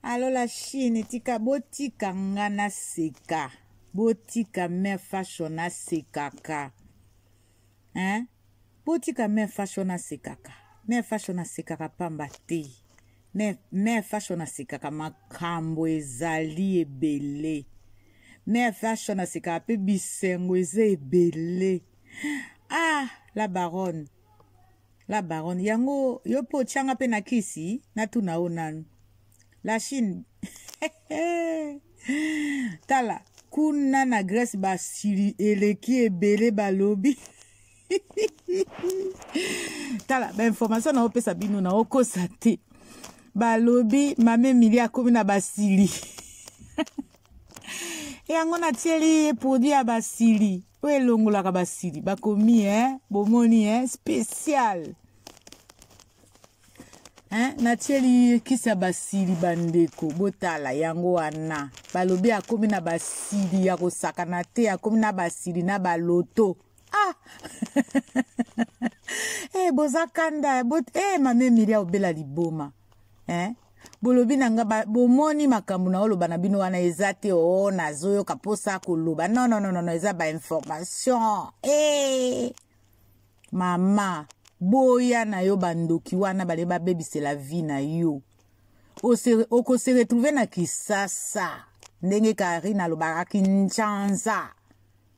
alo la chine tika botika nga naseka botika mare fashion nasekaka hein? botika mare fashion nasekaka mare fashion nasekaka pamba te mare fashion nasekaka makambo ezali ebele mare fashion nasekaka mpe bisengo eza ebele ah la baronne la baronne yango yo mpe otyanga mpe na kisi natuna yo nanu la chine tala kuna na grèce basili eleki ebele balobi tala bainformation naopesa bino naokosa te balobi mame emili akomi na basili yango natieli ye produit ya basili oyo elongolaka basili bakomi eh? bomoni eh? spécial eh? natieli kisi ya basili bandeko botala yango wana balobi akomi na basili ya kosakana te akomi na basili na baloto ah! hey, eh, boza kanda bot hey, eh, mame milia obela liboma eh? bolobi na nga bomoni makambo na oloba na bino wana eza te o oh, nazoyoka mposa koloba non non non eza bainformation e mama boya na yo bandoki wana bale babebisela vie na yo okose retrouve na kisasa ndenge karine alobaka kinshasa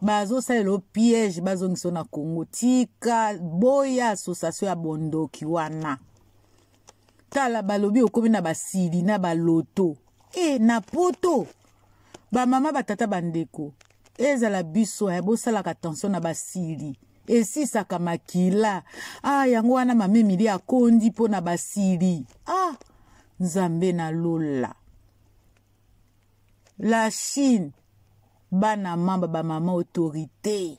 bazosalela yo piège bazongisa yo na congo tika boya association ya bondoki wana tala balobi okomi na basili na baloto e na poto bamama batata bandeko ezala biso ya eh, bosalaka attention na basili esisaka makila ah yango wana mama emili akondi mpo na basili ah nzambe na lola la chine bana mamba bamama autorité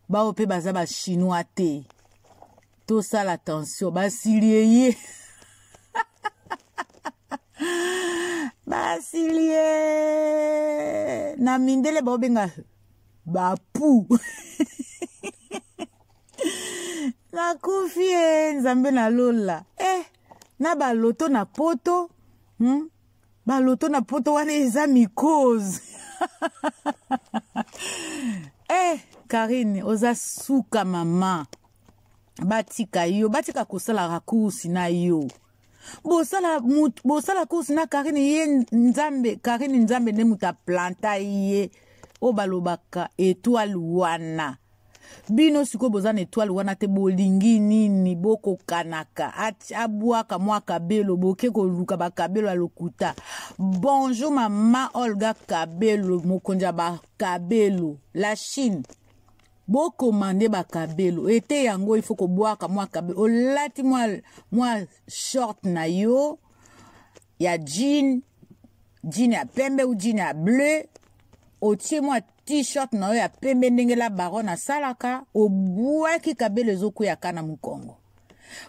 baoyo mpe baza bachinois te tosala attention basilieye basilie na mindele baobenga bapu nakufi e nzambe na lola eh na baloto na poto hmm? baloto na poto wana eza mikose eh karine oza suka mama batika yo batika kosala rakursi na yo bosala bosala kursi na karine ye nzambe karine nzambe nde moto aplanta ye oyo balobaka etoile wana bino sikoyo boza na etoile wana te bolingi nini bokokanaka abwaka mwa kabelo boke koluka bakabelo ya lokuta bonjour mama olga kabelo mokonzi ya bakabelo la chine bokomande bakabelo ete yango ifo kobwaka mwa kabelo olati mwa, mwa short na yo ya jean jean ya pembe ou jean ya bleu otie mwa t-shirt na yo ya pembe ndenge la baron asalaka obwaki kabelo ezokweyaka na mokongo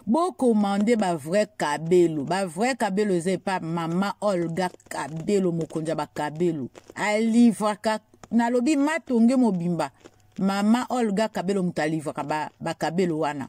bokomande bavrai kabelo bavrai kabelo eza epa mama olga kabelo mokonzi ya bakabelo alivraka nalobi matonge mobimba mama olga kabelo moto alivraka bakabelo ba wana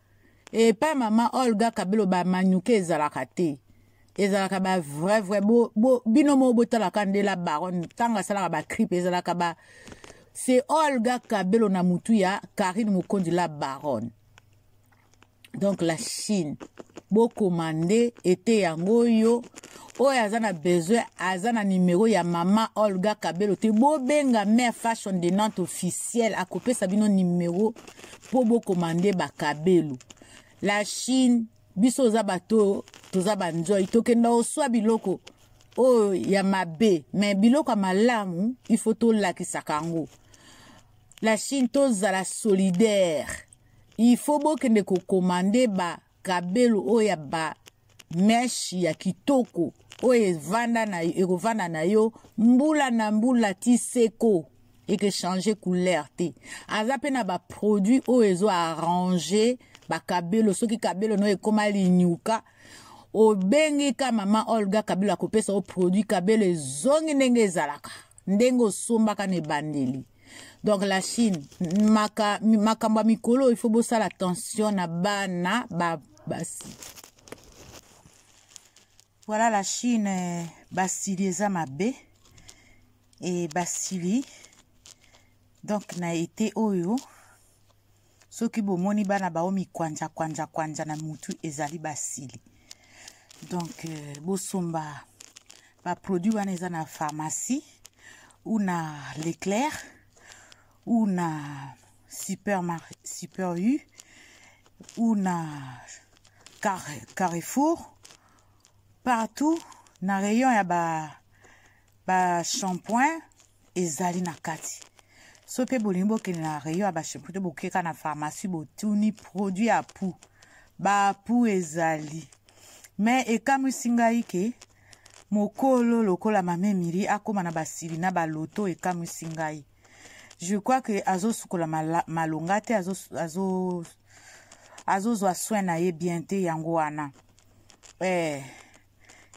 epa mama olga kabelo bamanyuke ezalaka te ezalaka ba vrai vrai bo, bo, bino moko botalaka nde la baronne ntango asalaka baclipe ezalaka ba se olga kabelo na motu ya karine mokonzi la baronne donc la chine bokoma nde ete yango oyo oyo aza na besoin aza na nimero ya mama olga kabelo te bobenga mare fashion de nante officiel akopesa bino nimero mpo bokomande bakabelu la chine biso oza bato oyo toza banzoi tokenda oswa biloko oyo ya mabe me biloko ya malamu ifo tolakisaka yango la chine tozala solidaire ifo bokende kokomande ba kabelo oyo ya ba meshe ya kitoko oyo evanda na ekovanda na yo mbula na mbula ti seko eke change couleur te aza mpe na baproduit oyo ezo arrange bakabelo soki kabelo no ekoma linyuka obengi ka mama olga kabelo akopesa yo produit kabelo ezongi ndenge ezalaka ndenge osombaka na ebandeli donc la chine maka, makambo ya mikolo oyo ifo bosala attention na bana ba basi voilà la chine eh, basili eza mabe e basili donc na ete oyo soki bomoni bana bao mikwanja kwanja kwanja na mutu ezali basili donc euh, bosomba baproduit wana eza na pharmacie ou na leclair ou na super, super u ou na car, carrefour partout na rayon ya ba, ba shampoing ezali na kati so mpe bolingi bokende na rayon ya bashampoo to bokeka na pharmacie botuni produit ya pou bapou ezali me ekamwisi ngai ke mokolo lokola mama emili akóma na basili na baloto ekamwisi ngai je crois ke azosukola malonga te azozwa azo, azo soin na ye bien te yango wana eh.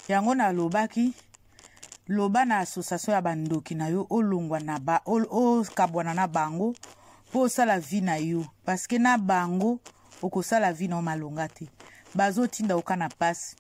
yango nalobaki loba na association ya bandoki na yo olongwa na ba okabwana na bango mpo osala vie na yo parceke na bango okosala vie na yo malonga te bazotinda oka na mpasi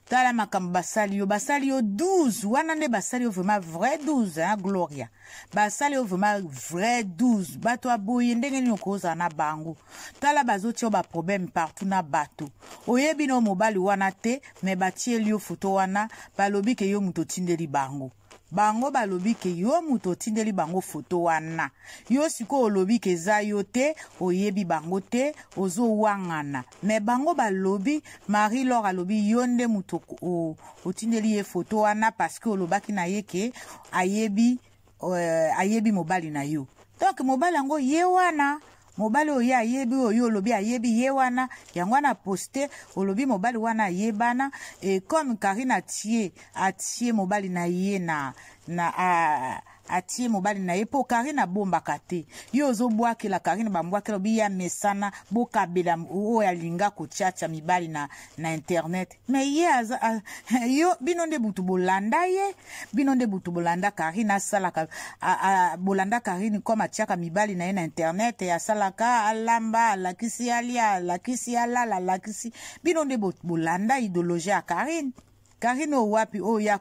tala makambo basali yo basali yo 12 wana nde basali yo vraiment vrai 12 hein, gloria basali yo vraiment vrai 12 bato aboye ndenge nini okozala na bango tala bazotia yo baproblème partout na bato oyebi no mobali wana te me batieli yo foto wana balobi ke yo moto otindeli bango bango balobi ke yo moto otindeli bango foto wana yo sikoyo olobi ke eza yo te oyebi bango te ozowangana me bango balobi marie lor alobi yo nde moto otindeli ye foto wana parceke olobaki na ye ke ayebi euh, ayebi mobali na yo donc mobali yango ye wana mobali oyo ye ayebi oyo olobi ayebi ye wana yango wana poste olobi mobali wana ayebana e comme karine atie atie mobali na ye na na a, atie mobali na ye mpo karine abombaka te ye ozobwakela karine bambwakela obi ye amesana bokabela oyo alinga kotyatya mibali na, na internet me ye aza a, yo bino nde butu bolanda ye bino nde butu bolanda karine asalaka a, a, bolanda karine comme atiaka mibali na ye na internet asalaka alamba alakisi alia alakisi alala alakisi bino nde bolanda idologie ya karine karine oyo wapi oyo ya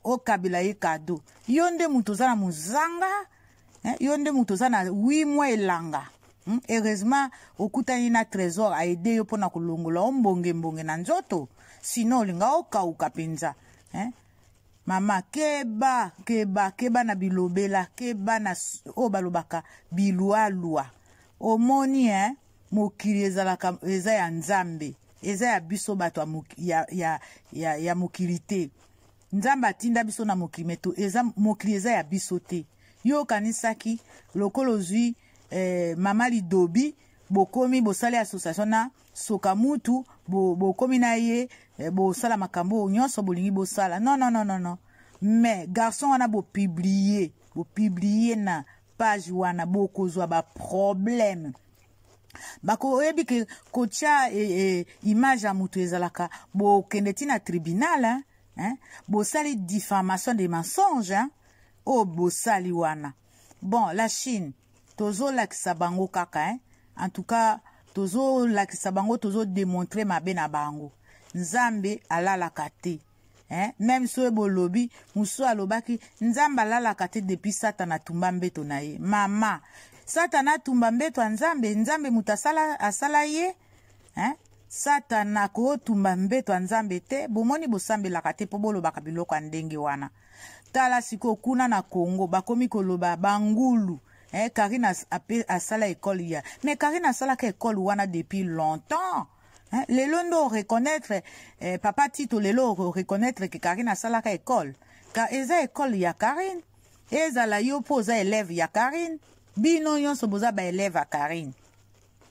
okabela ye kado yo nde moto oza na mozanga eh, yo nde moto oza na 8 mois elanga Hmm, heureusement okutani na trésor aide yo mpo na kolongola o mbonge mbonge na nzoto sino olinga okauka mpenza eh? mama keba keba keba na bilobela keba na oyo balobaka bilualua omoni eh? mokili ezalaka eza ya nzambe eza ya biso bato ya, ya, ya, ya mokili te nzambe atinda biso na mokili meto eza mokili eza ya biso te yo okanisaki lokola ozwi eh, mama lidobi bokomi bosali association na soka mutu bokomi bo na ye eh, bosala makambo oyo nyonso bolingi bosala non non non non non mais garçon wana bopiblie bopiblie na page wana bokozwa baproblème bakoyebi ke kotya e, e, image ya moto ezalaka bokende ti na tribunal hein? bosali diffamation de mensonge oyo oh, bosali wana bon la chine tozolakisa bango kaka hein? en tout cas tozolakisa bango tozodemontre mabe na bango nzambe alalaka te hein? meme soki bolobi mosusu alobaki nzambe alalaka te depuis satana atumba mbeto na ye mama satana atumba mbeto ya nzambe nzambe moto asala, asala ye hein? satana akotumba mbeto ya nzambe te bomoni bosambelaka te mpo bolobaka biloko ya ndenge wana tala sikoyo kuna na congo bakomi koloba bangulu eh, karine as, asala ekole ya mais karine asalaka ekole wana depuis longtemps eh, lelo nde oreconnaitre eh, papa tito lelo oreconnaitre ke karine asalaka ekole ka eza ekole ya karine ezala yo mpo oza elève ya karine bino nyonso boza baelève ya karine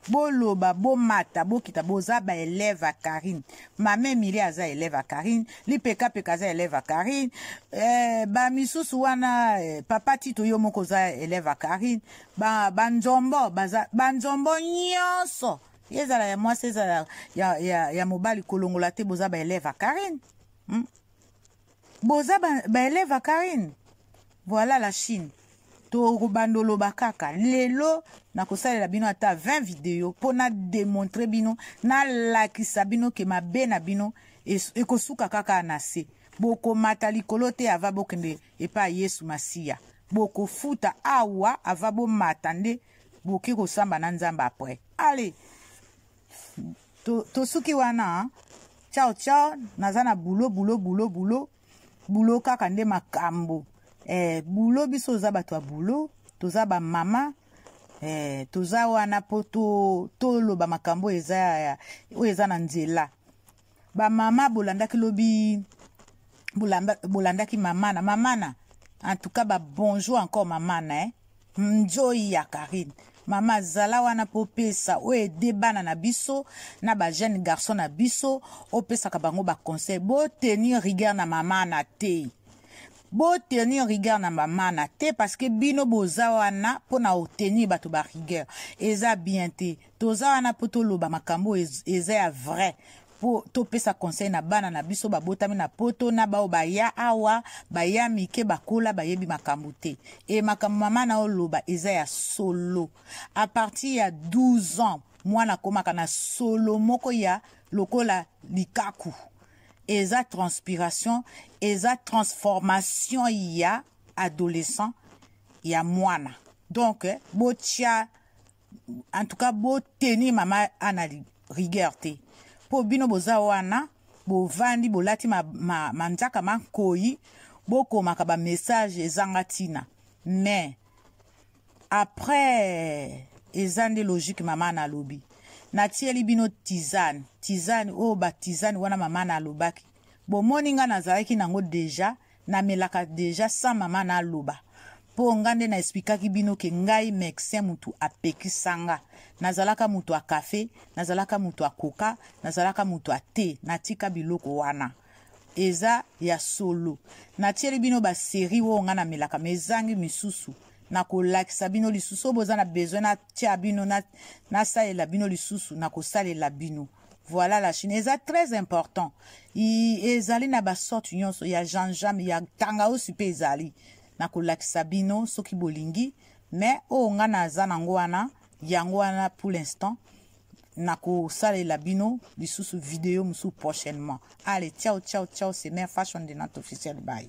boloba bomata bokita boza ba elève ya karine mama emili aza elève ya karine lipekapeka aza elève ya karine eh, bamisusu wana eh, papa tito yo moko oza elève ya karine banzombo ba banzombo nyonso ezala ya mwasi ezala ya, ya, ya mobali kolongola te boza ba elève ya karine hmm? boza baelève ba ya karine voilà la chine tokobanda oloba kaka lelo nakosalela bino ata 20 video mpo na demontre bino nalakisa bino ke mabe na bino ekosuka kaka na se bokomata likolo te ava bokende epai yesu masiya bokofuta awa ava bomata nde boke kosamba na nzambe apres ale tosuki wana ciao ciao naza na bulo bulo bulo bulo bulo kaka nde makambo eh, bulo biso oza bato ya bulo toza bamama eh, toza wana mpo toloba to makambo oyo eza na nzela ba mama bolandaki lobi bolandaki mamana mamana en tout cas ba bonjour encore mamana eh? nzoyi ya karine mama zala wana mpo opesa oyo ede bana na biso na bajeune garçon na biso opesaka bango baconseil botenir rigueur na mamana te botenir rigueur na mamana te parce que bino boza wana mpo na otenir bato barigueur eza bien te toza wana mpo toloba makambo oyo eza ya vrai mpo topesa conseil na bana na biso babotami na poto na baoyo baya awa baya mike bakola bayebi makambo te e makambo mama na oloba eza ya solo a partir ya 12 ans mwana akomaka na solo moko ya lokola likaku eza transpiration eza transformation ya adolescent ya mwana donc eh, botya en tout cas boteni mama ana rigueur te mpo bino boza wana bovandi bolati manzaka ma, ma mankoi bokomaka bamessage ezanga ntina mais après eza nde logique mama na alobi natieli bino tizane tizane oyo oh, batizane wana mama na alobaki bomoni ngai nazalaki nango deja namelaka deja sa mama naloba mpo ngai nde na esplikaki bino ke ngai mexin motu apekisa nga nazalaka motu ya kafe nazalaka motu ya koka nazalaka motu ya te natika biloko wana eza ya solo natieli bino baserie oyo ngai namelaka ma ezangi misusu nakolakisa bino lisusu oyo boza na besoin natia bino nasalela bino lisusu nakosalela bino Voilà la Chine eza très important. I, ezali na ba sorte nyonso ya janjam ya tangausi mpe ezali na kolakisa bino soki bolingi mais oyo nga naza nango wana yango wana pour l'instant nakosalela bino lisusu video mosusu prochainement ale ciao ciao ciao c'est mère fashion de notre officiel baye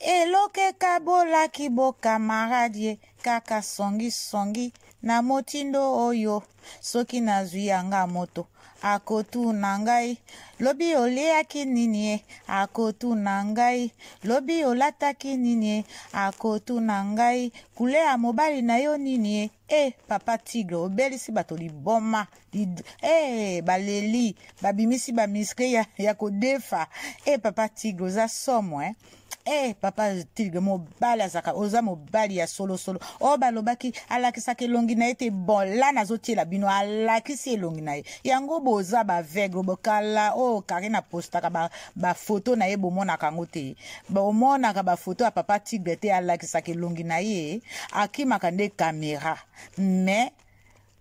eloke kabolaki bokamarade kaka songisongi na motindo oyo soki nazwi yanga moto akotuna ngai lobi oliaki nini ye akotuna ngai lobi olataki nini ye akotuna ngai kule ya mobali na yo nini ye Eh, papa tigre obelisi bato liboma Lid... eh, baleli babimisi bamiske ya, ya kodefa eh, papa tigre oza somo eh? eh papa tilge mobali azaka oza mobali ya solosolo oyo oh, balobaki alakisaka elongi na ye te bon la nazotiela bino alakisi elongi na ye yango boza baveugle bokala oyo oh, karine apostaka bafoto ba na ye bomonaka yango te bomonaka bafoto ya papa tigre te alakisaka elongi na ye akimaka nde kamera mais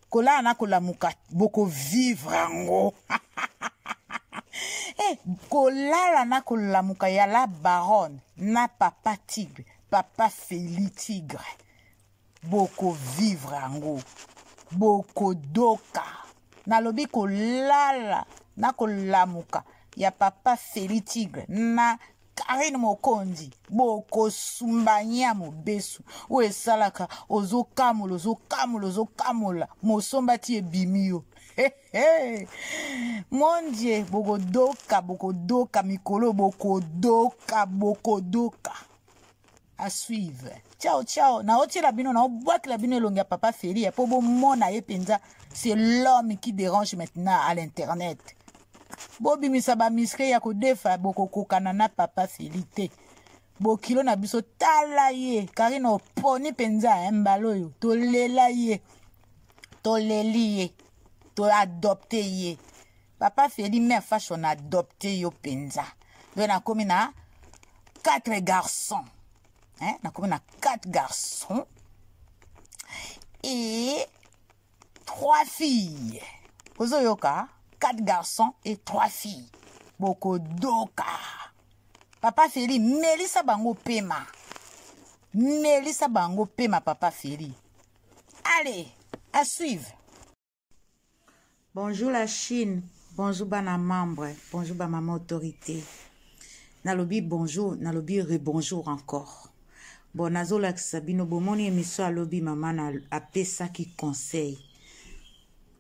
kolala na kolamuka bokovivre yango hey, eh, kolala na kolamuka ya la baronne na papa tigre papa feli tigre boko vivre yango bokodoka nalobi kolala na kolamuka ya papa feli tigre na karine mokonzi bokosumbania mobesu oyo esalaka ozokamola ozokamola ozokamola mosomba ti ebimi yo mondie bokodoka bokodoka mikolo bokodoka bokodoka à suivre ciao ciao naotiela bino naobwakela bino elongi ya papa feri ya mpo bomona ye mpenza c'est l'homme qui dérange maintenant à l'internet bobimisa bamiskle ya kodefa bokokokana na papa feli te bokilo na biso tala ye karine oponi mpenza eh, mbala oyo tolela ye toleli ye toadopte ye papa feli mère fashion adopte yo mpenza yo nakomi na quatre garçons hein? nakomi na quatre garçons et trois filles ozoyoka quatre garçons et trois filles bokodoka papa feli melisa bango pema melisa bango pema papa feli allez à suivre Bonjour la Chine, bonjour bana membre, bonjour ba maman autorité. Nalobi bonjour, nalobi rebonjour encore. Bon nazolakisa bino bomoni emission alobi mama na apesaki conseil.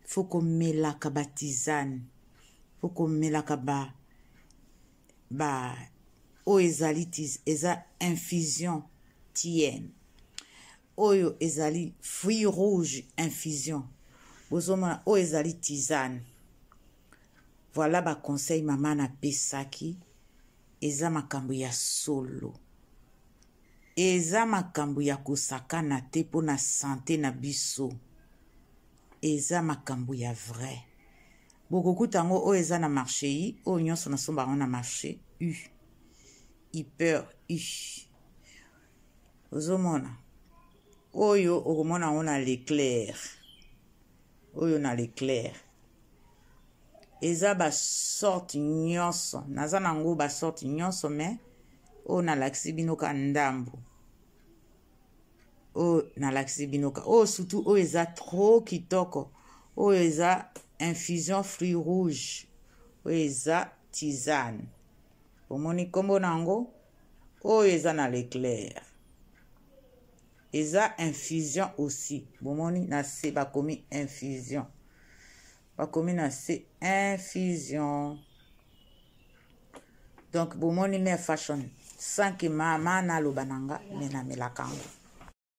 Faut komelaka ba tisane. Faut komelaka ba ba oyo ezali eza infusion tienne. oyo ezali fruit rouge infusion bozomona oyo ezali tisane voilà baconseil mama napesaki eza makambo ya solo eza makambo ya kosakana te mpo na sante na biso eza makambo ya vrai bokokuta yango oyo eza na marché i oyo nyonso nasomba yango na marché u hyper u ozomona oyo okomona yango na leclair oyo na leclair eza basorte nyonso naza na yango basorte nyonso me oyo nalakisi bino ka ndambo oyo nalakisi bino ka oyo surtout oyo eza trop kitoko oyo eza infusion fruit rouge oyo eza tisane omoni nkombo na yango oyo eza na leclair eza infusion aussi bomoni na se bakomi infusion bakomi na se infusion donc bomoni mare fashion sanki mama naloba na nga me namelaka yango